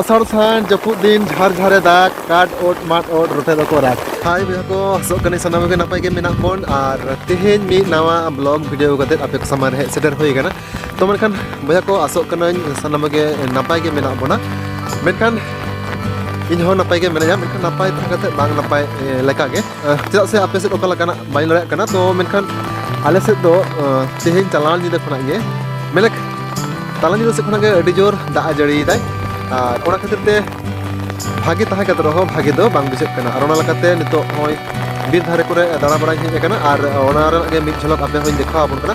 ᱟᱥᱟᱲ ᱥᱟᱱ ᱡᱟᱹᱯᱩᱫ ᱫᱤᱱ ᱡᱷᱟᱨ ᱡᱷᱟᱨᱮ ᱫᱟᱜ ᱠᱟᱴ ᱚᱴ ᱢᱟᱴ ᱚᱴ ᱨᱚᱴᱮ ᱫᱚᱠᱚ ᱨᱟᱜ ᱦᱟᱭ ᱵᱚᱭᱦᱟ ᱠᱚ ᱦᱟᱥᱚᱜ ᱠᱟᱹᱱᱟᱹᱧ ᱥᱟᱱᱟᱢ ᱜᱮ ᱱᱟᱯᱟᱭ ᱜᱮ ᱢᱮᱱᱟᱜ ᱵᱚᱱ ᱟᱨ ᱛᱮᱦᱮᱧ ᱢᱤᱫ ᱱᱟᱣᱟ ᱵᱞᱚᱜ ᱵᱷᱤᱰᱤᱭᱳ ᱠᱟᱛᱮ ᱟᱯᱮ ᱠᱚ ᱥᱟᱢᱟᱝ ᱨᱮ ᱦᱮᱡ ᱥᱮᱴᱮᱨ ᱦᱩᱭ ᱟᱠᱟᱱᱟ ᱛᱚ ᱢᱮᱱᱠᱷᱟᱱ ᱵᱚᱭᱦᱟ ᱠᱚ ᱟᱥᱚᱜ ᱠᱟᱹᱱᱟᱹᱧ ᱥᱟᱱᱟᱢ ᱜᱮ ᱱᱟᱯᱟᱭ ᱜᱮ ᱢᱮᱱᱟᱜ ᱵᱚᱱᱟ ᱢᱮᱱᱠᱷᱟᱱ ᱤᱧ ᱦᱚᱸ ᱱᱟᱯᱟᱭ ᱜᱮ ᱢᱮᱱᱟᱭᱟ ᱢᱮᱱᱠᱷᱟᱱ ᱱᱟᱯᱟᱭ ᱛᱟᱦᱮᱸ ᱠᱟᱛᱮ ᱵᱟᱝ ᱱᱟᱯᱟᱭ ᱞᱮᱠᱟ ᱜᱮ ᱪᱮᱫᱟᱜ ᱥᱮ ᱟᱯᱮ ᱥᱮᱫ ᱚᱠᱟ ᱞᱮᱠᱟᱱᱟᱜ ᱵᱟᱹᱧ ᱞᱟᱹᱭᱟᱜ ᱠᱟᱱᱟ ᱛᱚ ᱢᱮᱱᱠᱷᱟᱱ ᱟᱞᱮ ᱥᱮᱫ ᱫᱚ ᱛᱮᱦᱮᱧ ᱪᱟᱞᱟᱣ ᱧᱤᱫᱟᱹ ᱠᱷᱚᱱᱟᱜ ᱜᱮ ᱢᱮᱱᱮᱠ ᱛᱟᱞᱟ ᱧᱤᱫᱟᱹ ᱥᱮᱫ ᱠᱷᱚᱱᱟᱜ ᱜᱮ ᱟᱹᱰᱤ ᱡᱳᱨ ᱫᱟᱜ ᱡᱟᱹᱲᱤᱭᱮᱫᱟᱭ ᱟᱨ ᱚᱱᱟ ᱠᱷᱟᱹᱛᱤᱨ ᱛᱮ ᱵᱷᱟᱜᱮ ᱛᱟᱦᱮᱸ ᱠᱟᱛᱮ ᱨᱮᱦᱚᱸ ᱵᱷᱟᱜᱮ ᱫᱚ ᱵᱟᱝ ᱵᱩᱡᱷᱟᱹᱜ ᱠᱟᱱᱟ ᱟᱨ ᱚᱱᱟ ᱞᱮᱠᱟᱛᱮ ᱱᱤᱛᱚᱜ ᱱᱚᱜᱼᱚᱭ ᱵᱤᱨ ᱫᱷᱟᱨᱮ ᱠᱚᱨᱮ ᱫᱟᱬᱟ ᱵᱟᱲᱟᱭ ᱦᱮᱡ ᱟᱠᱟᱱᱟ ᱟᱨ ᱚᱱᱟ ᱨᱮᱱᱟᱜ ᱜᱮ ᱢᱤᱫ ᱡᱷᱚᱞᱚᱠ ᱟᱯᱮ ᱦᱚᱸᱧ ᱫᱮᱠᱷᱟᱣ ᱟᱵᱚᱱ ᱠᱟᱱᱟ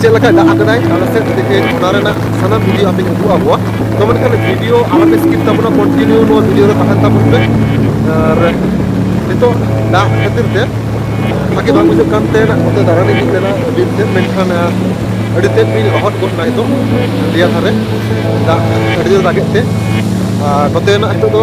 ᱪᱮᱫ ᱞᱮᱠᱟ ᱫᱟᱜ ᱟᱠᱟᱫᱟᱭ ᱟᱞᱮ ᱥᱮᱫ ᱛᱮᱜᱮ ᱚᱱᱟ ᱨᱮᱱᱟᱜ ᱥᱟᱱᱟᱢ ᱵᱷᱤᱰᱤᱭᱳ ᱟᱯᱮᱧ ᱩᱫᱩᱜ ᱟᱠᱚᱣᱟ ᱛᱚ ᱢᱮᱱᱠᱷᱟᱱ ᱵᱷᱤᱰᱤᱭᱳ ᱟᱞᱚᱯᱮ ᱥᱠᱤᱯ ᱛᱟᱵᱚᱱᱟ ᱠᱚᱱᱴᱤᱱᱤᱭᱩ ᱱᱚᱣᱟ ᱵᱷᱤᱰᱤᱭᱳ ᱨᱮ ᱛᱟᱦᱮᱱ ᱛᱟᱵᱚᱱ ᱯᱮ ᱟᱨ ᱱᱤᱛᱚᱜ ᱫᱟᱜ ᱠᱷᱟᱹᱛᱤᱨ ᱛᱮ ᱵᱷᱟᱜᱮ ᱵᱟᱝ ᱵᱩᱡᱷᱟᱹᱜ ᱠᱟᱱ ᱛᱮ ᱚᱱᱛᱮ ᱫᱟᱬᱟᱱ ᱤᱧ ᱦᱮᱡ ᱞᱮᱱᱟ ᱵᱤᱨ ᱥᱮᱫ ᱢᱮᱱᱠᱷᱟᱱ ᱟᱹᱰᱤ ᱛᱮᱫ ᱜᱤᱧ ᱞᱚᱦᱚᱫ ᱜᱚᱫ ᱮᱱᱟ ᱱᱤᱛᱚᱜ ᱫᱮᱭᱟ ᱫᱷᱟᱨᱮ ᱫᱟᱜ ᱟᱹᱰᱤ ᱡᱳᱨ ᱫᱟᱜᱮᱫ ᱛᱮ ᱟᱨ ᱱᱚᱛᱮᱱᱟᱜ ᱱᱤᱛᱚᱜ ᱫᱚ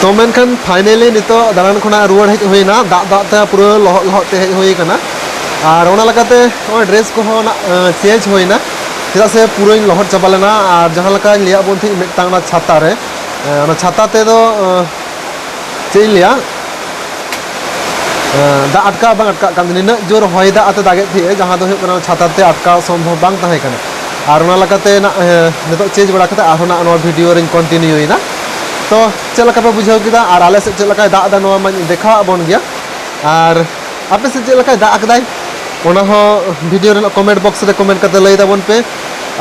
ᱛᱚ ᱢᱮᱱᱠᱷᱟᱱ ᱯᱷᱟᱭᱱᱮᱞᱤ ᱱᱤᱛᱚᱜ ᱫᱟᱬᱟᱱ ᱠᱷᱚᱱᱟᱜ ᱨᱩᱣᱟᱹᱲ ᱦᱮᱡ ᱦᱩᱭᱱᱟ ᱫᱟᱜ ᱫᱟᱜ ᱛᱮ ᱯᱩᱨᱟᱹ ᱞᱚᱦᱚᱫ ᱞᱚᱦᱚᱫ ᱛᱮ ᱦᱮᱡ ᱦᱩᱭ ᱟᱠᱟᱱᱟ ᱟᱨ ᱚᱱᱟ ᱞᱮᱠᱟᱛᱮ ᱱᱚᱜᱼᱚᱭ ᱰᱨᱮᱥ ᱠᱚᱦᱚᱸ ᱪᱮᱧᱡᱽ ᱦᱩᱭᱱᱟ ᱪᱮᱫᱟᱜ ᱥᱮ ᱯᱩᱨᱟᱹᱧ ᱞᱚᱦᱚᱫ ᱪᱟᱵᱟ ᱞᱮᱱᱟ ᱟᱨ ᱡᱟᱦᱟᱸ ᱞᱮᱠᱟᱧ ᱞᱟᱹᱭᱟᱫ ᱵᱚᱱ ᱛᱟᱦᱮᱸᱫ ᱢᱤᱫᱴᱟᱝ ᱚᱱᱟ ᱪᱷᱟᱛᱟ ᱨᱮ ᱚᱱᱟ ᱪᱷᱟᱛᱟ ᱛᱮᱫᱚ ᱪᱮᱫ ᱤᱧ ᱞᱟᱹᱭᱟ ᱫᱟᱜ ᱟᱴᱠᱟᱣ ᱵᱟᱝ ᱟᱴᱠᱟᱜ ᱠᱟᱱ ᱱᱤᱱᱟᱹᱜ ᱡᱳᱨ ᱦᱚᱭ ᱫᱟᱜ ᱟᱛᱮ ᱫᱟᱜᱮᱫ ᱛᱟᱦᱮᱸᱜᱼᱟ ᱡᱟᱦᱟᱸ ᱫᱚ ᱦᱩᱭᱩᱜ ᱠᱟᱱᱟ ᱪᱷᱟᱛᱟ ᱛᱮ ᱟᱴᱠᱟᱣ ᱥᱚᱢᱵᱷᱚᱵ ᱵᱟᱝ ᱛᱟᱦᱮᱸ ᱠᱟᱱᱟ ᱟᱨ ᱚᱱᱟ ᱞᱮᱠᱟᱛᱮ ᱱᱤᱛᱚᱜ ᱪᱮᱧᱡᱽ ᱵᱟᱲᱟ ᱠᱟᱛᱮ ᱟᱨᱦᱚᱸ ᱱᱟᱜ ᱱᱚᱣᱟ ᱵᱷᱤᱰᱤᱭᱳ ᱨᱤᱧ ᱠᱚᱱᱴᱤᱱᱤᱭᱩᱭᱮᱫᱟ ᱛᱚ ᱪᱮᱫ ᱞᱮᱠᱟ ᱯᱮ ᱵᱩᱡᱷᱟᱹᱣ ᱠᱮᱫᱟ ᱟᱨ ᱟᱞᱮ ᱥᱮᱫ ᱪᱮᱫ ᱞᱮᱠᱟᱭ ᱫᱟᱜ ᱮᱫᱟ ᱱᱚᱣᱟ ᱢᱟᱧ ᱫᱮᱠᱷᱟᱣᱟᱫ ᱵᱚᱱ ᱜᱮᱭᱟ ᱟᱨ ᱟᱯᱮ ᱥᱮᱫ ᱪᱮᱫ ᱞᱮᱠᱟᱭ ᱫᱟᱜ ᱟᱠᱟᱫᱟᱭ ᱚᱱᱟ ᱦᱚᱸ ᱵᱷᱤᱰᱤᱭᱳ ᱨᱮᱱᱟᱜ ᱠᱚᱢᱮᱱᱴ ᱵᱚᱠᱥ ᱨᱮ ᱠᱚᱢᱮᱱᱴ ᱠᱟᱛᱮ ᱞᱟᱹᱭ ᱛᱟᱵᱚᱱ ᱯᱮ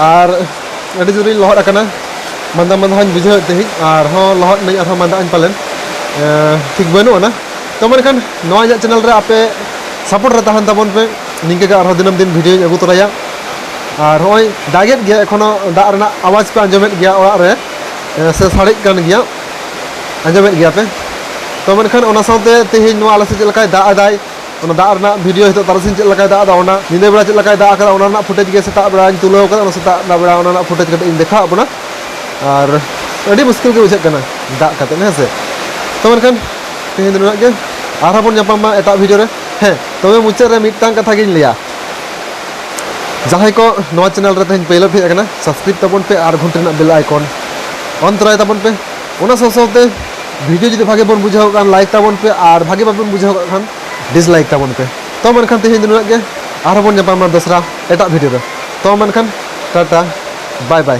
ᱟᱨ ᱟᱹᱰᱤ ᱡᱳᱨᱤᱧ ᱞᱚᱦᱚᱫ ᱟᱠᱟᱱᱟ ᱢᱟᱸᱫᱟ ᱢᱟᱸᱫᱟ ᱦᱚᱸᱧ ᱵᱩᱡᱷᱟᱹᱣᱮᱫ ᱛᱮᱦᱮᱧ ᱟᱨᱦᱚᱸ ᱞᱚᱦᱚᱫ ᱱᱟᱹᱧ ᱟᱨᱦᱚᱸ ᱢᱟᱸᱫᱟ ᱟᱹᱧ ᱯᱟᱞᱮᱱ ᱴᱷᱤᱠ ᱵᱟᱹᱱᱩᱜ ᱟᱱᱟ ᱛᱚ ᱢᱮᱱᱠᱷᱟᱱ ᱱᱚᱣᱟ ᱤᱧᱟᱹᱜ ᱪᱮᱱᱮᱞ ᱨᱮ ᱟᱯᱮ ᱥᱟᱯᱳᱨᱴ ᱨᱮ ᱛᱟᱦᱮᱱ ᱛᱟᱵᱚᱱ ᱯᱮ ᱱᱤᱝᱠᱟᱹ ᱜᱮ ᱟᱨᱦᱚᱸ ᱫᱤᱱᱟᱹᱢ ᱫᱤᱱ ᱵᱷᱤᱰᱤᱭᱳᱧ ᱟᱹᱜᱩ ᱛᱚᱨᱟᱭᱟ ᱟᱨ ᱦᱚᱸᱜᱼᱚᱭ ᱫᱟᱜᱮᱫ ᱜᱮᱭᱟ ᱮᱠᱷᱚᱱᱚ ᱫᱟᱜ ᱨᱮᱱᱟᱜ ᱟᱣᱟᱡᱽ ᱯᱮ ᱟᱸᱡᱚᱢᱮᱫ ᱜᱮᱭᱟ ᱚᱲᱟᱜ ᱨᱮ ᱥᱮ ᱥᱟᱰᱮᱜ ᱠᱟᱱ ᱜᱮᱭᱟ ᱟᱸᱡᱚᱢᱮᱫ ᱜᱮᱭᱟ ᱯᱮ ᱛᱚ ᱢᱮᱱᱠᱷᱟᱱ ᱚᱱᱟ ᱥᱟᱶᱛᱮ ᱛᱮᱦᱮᱧ ᱱᱚᱣᱟ ᱟᱞᱮ ᱥᱮᱫ ᱪᱮᱫ ᱞᱮᱠᱟᱭ ᱫᱟᱜ ᱮᱫᱟᱭ ᱚᱱᱟ ᱫᱟᱜ ᱨᱮᱱᱟᱜ ᱵᱷᱤᱰᱤᱭᱳ ᱱᱤᱛᱚᱜ ᱛᱟᱨᱟᱥᱤᱧ ᱪᱮᱫ ᱞᱮᱠᱟᱭ ᱫᱟᱜ ᱮᱫᱟ ᱚᱱᱟ ᱧᱤᱫᱟᱹ ᱵᱮᱲᱟ ᱪᱮᱫ ᱞᱮᱠᱟᱭ ᱫᱟᱜ ᱟᱠᱟᱫᱟ ᱚᱱᱟ ᱨᱮᱱᱟᱜ ᱯᱷᱩᱴᱮᱡᱽ ᱜᱮ ᱥᱮᱛᱟᱜ ᱵᱮᱲᱟᱧ ᱛᱩᱞᱟᱹᱣ ᱟᱠᱟᱫᱟ ᱚᱱᱟ ᱥᱮᱛᱟᱜ ᱵᱮᱲᱟ ᱚᱱᱟ ᱨᱮᱱᱟᱜ ᱯᱷᱩᱴᱮᱡᱽ ᱠᱟᱹᱴᱤᱡ ᱤᱧ ᱫᱮᱠᱷᱟᱣᱟᱜ ᱵᱚᱱᱟ ᱟᱨ ᱟᱹᱰᱤ ᱢᱩᱥᱠᱤᱞ ᱜᱮ ᱵᱩᱡᱷᱟᱹᱜ ᱠᱟᱱᱟ ᱫᱟᱜ ᱠᱟᱛᱮ ᱦᱮᱸ ᱥᱮ ᱛᱚ ᱢᱮᱱᱠᱷᱟᱱ ᱛᱮᱦᱮᱧ ᱫᱚ ᱱᱩᱱᱟᱹᱜ ᱜᱮ ᱟᱨᱦᱚᱸ ᱵᱚᱱ ᱧᱟᱯᱟᱢᱟ ᱮᱴᱟᱜ ᱵᱷᱤᱰᱤᱭᱳ ᱨᱮ ᱦᱮᱸ ᱛᱚᱵᱮ ᱢᱩᱪᱟᱹᱫ ᱨᱮ ᱢᱤᱫᱴᱟᱝ ᱠᱟᱛᱷᱟ ᱜᱤᱧ ᱞᱟᱹᱭᱟ ᱡᱟᱦᱟᱸᱭ ᱠᱚ ᱱᱚᱣᱟ ᱪᱮᱱᱮᱞ ᱨᱮ ᱛᱮᱦᱮᱧ ᱯᱳᱭᱞᱳ ᱯᱮ ᱦᱮᱡ ᱟᱠᱟᱱᱟ ᱥᱟᱵᱥᱠᱨᱟᱭᱤᱵ ᱛᱟᱵᱚᱱ ᱯᱮ ᱟᱨ ᱜᱷᱚᱱᱴᱟ ᱨᱮᱱᱟᱜ ᱵᱮᱞ ᱟᱭᱠᱚᱱ ᱚᱱ ᱛᱚᱨᱟᱭ ᱛᱟᱵᱚᱱ ᱯᱮ ᱚᱱᱟ ᱥᱟᱶ ᱥᱟᱶᱛᱮ ᱵᱷᱤᱰᱤᱭᱳ ᱡᱩᱫᱤ ᱵᱷᱟᱜᱮ ᱵᱚᱱ ᱵᱩᱡᱷᱟᱹᱣ ᱠᱟᱱ ᱞᱟᱭᱤᱠ ᱛᱟᱵᱚᱱ ᱯᱮ ᱟᱨ ᱵᱷᱟᱜᱮ ᱵᱟᱵᱚᱱ ᱵᱩᱡᱷᱟᱹᱣ ᱠᱟᱜ ᱠᱷᱟᱱ ᱰᱤᱥᱞᱟᱭᱤᱠ ᱛᱟᱵᱚᱱ ᱯᱮ ᱛᱚ ᱢᱮᱱᱠᱷᱟᱱ ᱛᱮᱦᱮᱧ ᱫᱚ ᱱᱩᱱᱟᱹᱜ ᱜᱮ ᱟᱨᱦᱚᱸ ᱵᱚᱱ ᱧᱟᱯᱟᱢᱟ ᱫᱚᱥᱨᱟ ᱮᱴᱟᱜ ᱵᱷᱤᱰᱤᱭᱳ ᱨᱮ ᱛᱚ ᱢᱮᱱᱠᱷᱟᱱ ᱴᱟᱴᱟ ᱵᱟᱭ ᱵᱟᱭ